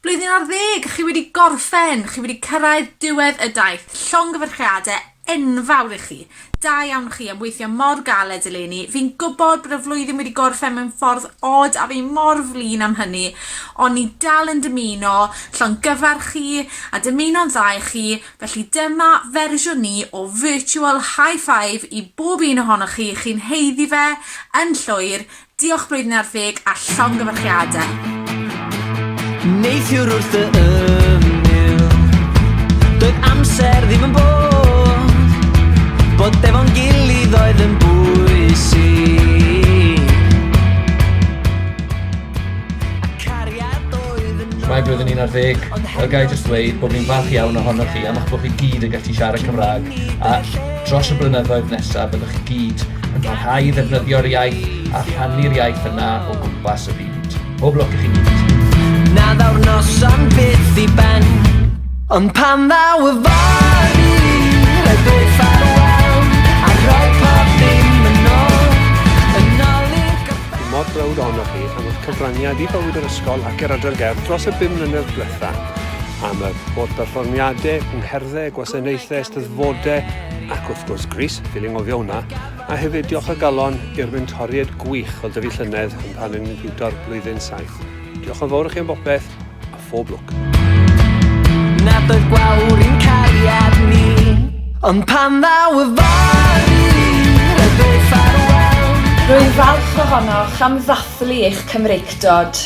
Blwyddyn ar ddeg, chi wedi gorffen, chi wedi cyrraedd diwedd y daith. Llongyfarchiadau enfawr i chi. Da iawn chi am weithio mor galed eleni. Fi'n gwybod bod y flwyddyn wedi gorffen mewn ffordd od a fi mor flin am hynny, ond ni dal yn dymuno llongyfarch chi a dymuno'n dda i chi, felly dyma fersiwn ni o virtual high five i bob un ohonoch chi, chi'n heiddi fe yn llwyr, Diolch Blwyddyn ar Ddeg a llongyfarchiadau! Neithiwr wrth y ymyl Doedd amser ddim yn bod Bod efo'n gilydd oedd yn bwysig A cariad oedd yn Mae blwyddyn un ar ddeg, a ga'i jyst ddweud bod fi'n falch iawn ohonoch chi am eich bod chi gyd yn gallu siarad Cymraeg a Dros y blynyddoedd nesaf byddwch chi gyd yn parhau i ddefnyddio'r iaith a rhannu'r iaith yna o gwmpas y byd. Pob lwc i chi gyd! Na ddaw'r noson byth i ben Ond pan ddaw y fory Rhaid dweud ffarwel A rhoi pob dim yn ôl Yn ôl i'r gorffennol Dwi mor browd ohonoch chi am eich cyfraniad i bywyd yr ysgol ac i'r Adran Gerdd dros y bum mlynedd diwetha', am yr holl berfformiade, cyngherddau, gwasanaethau, Fode ac wrth gwrs Grease, fi'n anghofio hwnna, a hefyd diolch o galon i'r mentoriaid gwych o dyfu llynedd yn rhan yn Niwto'r Blwyddyn Saith. Diolch yn fawr i chi am bopeth, a phob lwc. Na bydd gwawr i'n cariad ni. Ond pan ddaw y fory, rydw i ffarwel. Rwy'n falch ohonoch am ddathlu eich Cymreictod.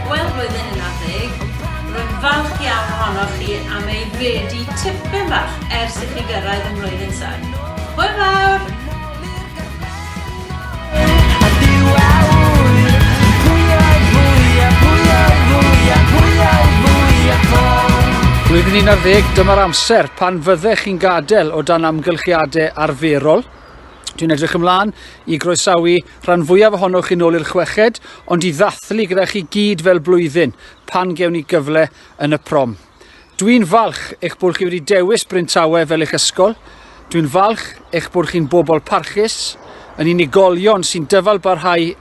Wel, roedd yn un ar ddeg. Rwy'n falch iawn ohonoch chi am ei redu tipyn bach ers i chi gyrraedd ym mlwyddyn saith. Hwyl fawr! Blwyddyn un ar ddeg, dyma'r amser pan fyddech chi'n gadael o dan amgylchiadau arferol. Dwi'n edrych ymlaen i groesawu rhan fwyaf ohonoch yn ôl i'r chweched, ond i ddathlu gyda chi gyd fel blwyddyn, pan gewn ni gyfle yn y prom. Dwi'n falch eich bod chi wedi dewis Bryntawe fel eich ysgol. Dwi'n falch eich bod chi'n bobl parchus, yn unigolion sy'n dyfal barhau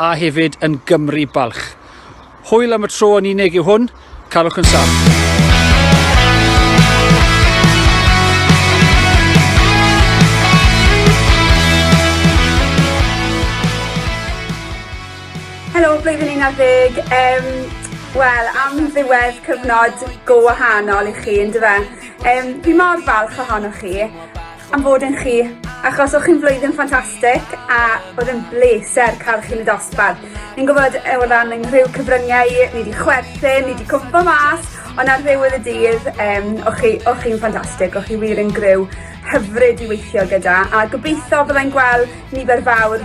a hefyd yn Gymru balch. Hwyl am y tro yn unig yw hwn, carwch yn saff. blwyddyn 11, um, wel, am ddiwedd cyfnod go wahanol i chi, yn dyfa. Um, fi mor falch ohonoch chi. am fod yn chi, achos o'ch chi'n flwyddyn ffantastig a oedd yn bleser cael chi'n y dosbarth. Ni'n gwybod e, o ran yng nghyfryngau, cyfryngau, ni wedi chwerthin, ni wedi cwmpa mas, ond ar ddiwedd y dydd, um, o'ch chi, o'ch chi'n ffantastig, o'ch chi wir yn gryw hyfryd i weithio gyda, a gobeithio byddai'n gweld nifer fawr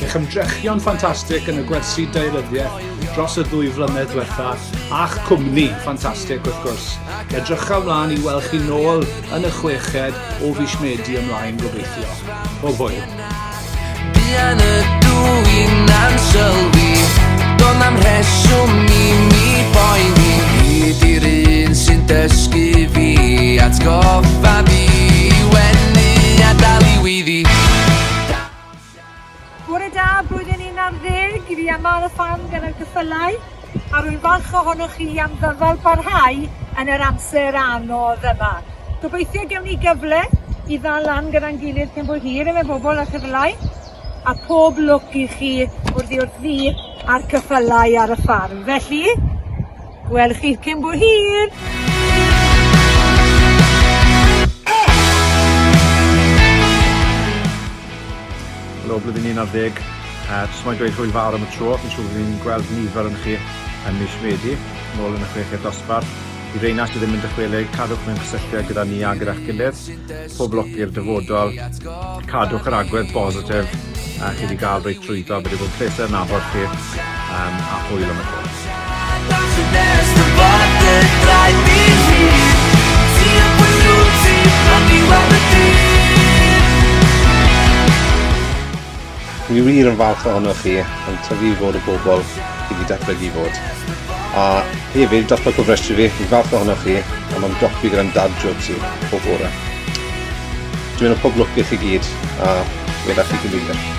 Eich ymdrechion ffantastig yn y gwersi daearyddiaeth dros y ddwy flynedd diwetha, a'ch cwmni ffantastig wrth gwrs. Edrychaf mlaen i weld chi nôl yn y chweched o fis Medi ymlaen gobeithio. Pob hwyl. Buan y dwy'n ansylwi, do'n am rheswm i mi boeni. Hyd i'r un sy'n dysgu fi, atgoffa fi i wenu a dal i weiddi. Bore da, blwyddyn un ar ddeg i fi a Mân a Fân gan yr ceffylau, a rwy'n falch ohonoch chi am ddyfal parhau yn yr amser anodd yma. Gobeithio gewn ni gyfle i ddal lan gyda'n gilydd cyn bo hir efe bobl a chyfylau, a pob lwc i chi wrth i wrth ddi a'r cyffylau ar y ffarm. Felly, Wel chi cyn bo hir! Helo blwyddyn un ar ddeg. Yy jyst moyn dweud hwyl fawr am y tro, fi'n siŵr fi'n gweld nifer yn chi yn mis Medi, nôl yn y chweched dosbarth. I reina sy ddim yn dychwelyd, cadwch mewn cysylltiad gyda ni a gyda'ch gilydd. Poblogi'r dyfodol, cadwch yr agwedd bositif a chi wedi gael reit trwyddo, wedi bod yn pleser yn nabod chi um, a hwyl am y tro. Dwi wir yn falch ohonoch chi yn tyfu i fod y bobl i fi datblygu i fod. A hefyd, dros pa cofrestru fi, fi'n falch ohonoch chi am am dopi gyda'n dad jokes i o bore. Dwi'n meddwl pob lwc i chi gyd a weda chi gyfeiriad.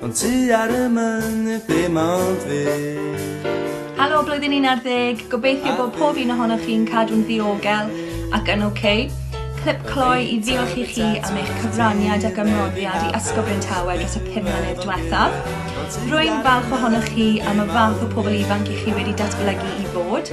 Ond ti ar y mynydd dim ond fi. Helo blwyddyn 11, gobeithio bod pob un ohonoch chi'n cadw'n ddiogel ac yn ok. Clip cloi i ddiolch i chi am eich cyfraniad ac ymroddiad i Ysgol Bryn Tawe dros y pum mlynedd diwethaf. Rwy'n falch ohonoch chi am y fath o pobl ifanc i chi wedi datblygu i fod.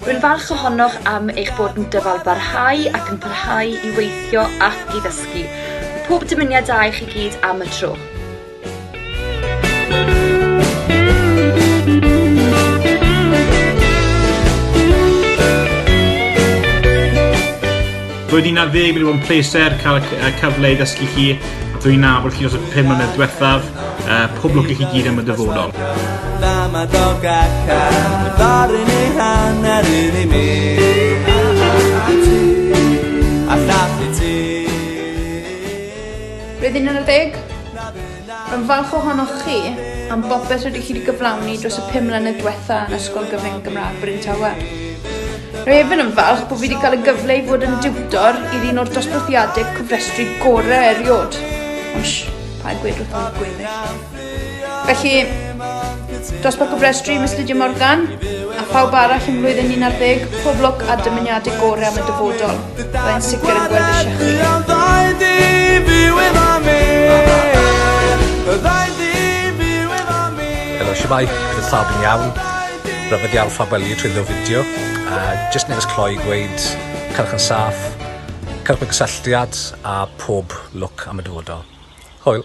Rwy'n falch ohonoch am eich bod yn dyfalbarhau ac yn parhau i weithio ac i ddysgu. Pob dymuniad da i chi gyd am y tro. Roedd hi'n ar ddeg wedi bod yn pleser cael y cyfle i ddysgu chi a dwi'n nabod chi dros y pum mlynedd diwethaf. Uh, pob lwc i chi gyd am y dyfodol. Dama dog a car, ddaru ni hanner un i mi. Rydyn yn y deg? Rwy'n falch ohonoch chi am bopeth rydych chi wedi gyflawni dros y pum mlynedd diwetha' yn Ysgol Gyfun Gymraeg Bryn Tawe. Rwy hefyd yn falch bod fi wedi cael y gyfle i fod yn diwtor i'r un o'r dosbarthiadau cofrestru gorau erioed. Ond sh, paid gwed wrth y gweddill. Felly, Dosbarth Gofrestru Miss Lydia Morgan a phawb arall yn flwyddyn 11, pob lwc a dymuniadau gorau am y dyfodol. Byddai'n sicr yn gweld eisiau chi. Helo, siamai, bydd pawb yn iawn. Rhyfedd iawn pha weli trwy ddew fideo. A jyst neges cloi gweud, cyrch yn saff, cyrch mewn cysylltiad a pob lwc am y dyfodol. Hwyl!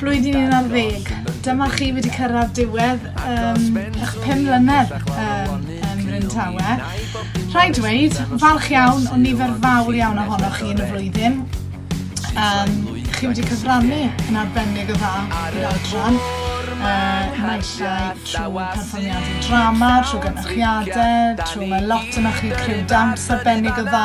Blwyddyn un ar ddeg. Dyma chi wedi cyrraedd diwedd um, eich pum mlynedd um, um, Bryn Tawe. Rhaid dweud, falch iawn o nifer fawr iawn ohonoch chi yn y flwyddyn. Um, chi wedi cyfrannu yn arbennig o dda i'r adran naill trwy perfformiadau drama, trwy gynnychiadau, trwy mae lot yna chi criw dawns arbennig o dda,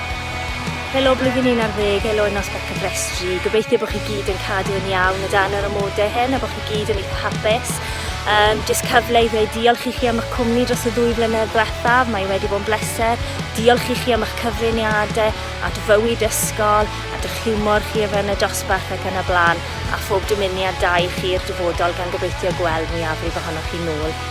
Helo blwyddyn 11, helo yn nos Becafrestri. Gobeithio bod chi gyd yn cadw yn iawn o dan yr amodau hyn a bod chi gyd yn eitha hapus. Um, just cyfle i ddweud diolch i chi am eich cwmni dros y ddwy flynedd ddiwethaf. Mae wedi bod yn bleser. Diolch i chi am eich cyfriniadau at fywyd ysgol, at eich hiwmor chi o fewn y dosbarth ac yn y blaen, a phob dymuniad da i chi i'r dyfodol gan gobeithio gweld mwyafrif ohonoch chi nôl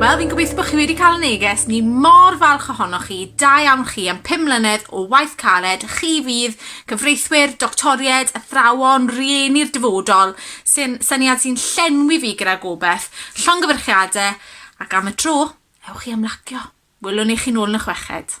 Wel, fi'n gobeithio bod chi wedi cael y neges, ni mor falch ohonoch chi, da iawn chi am 5 mlynedd o waith caled, chi fydd cyfreithwyr, doctoried, athrawon, rieni'r dyfodol, sy'n syniad sy'n llenwi fi gyda gobeith, llongyfyrchiadau, ac am y tro, ewch i ymlacio. Wylwn i chi'n ôl yn y chweched.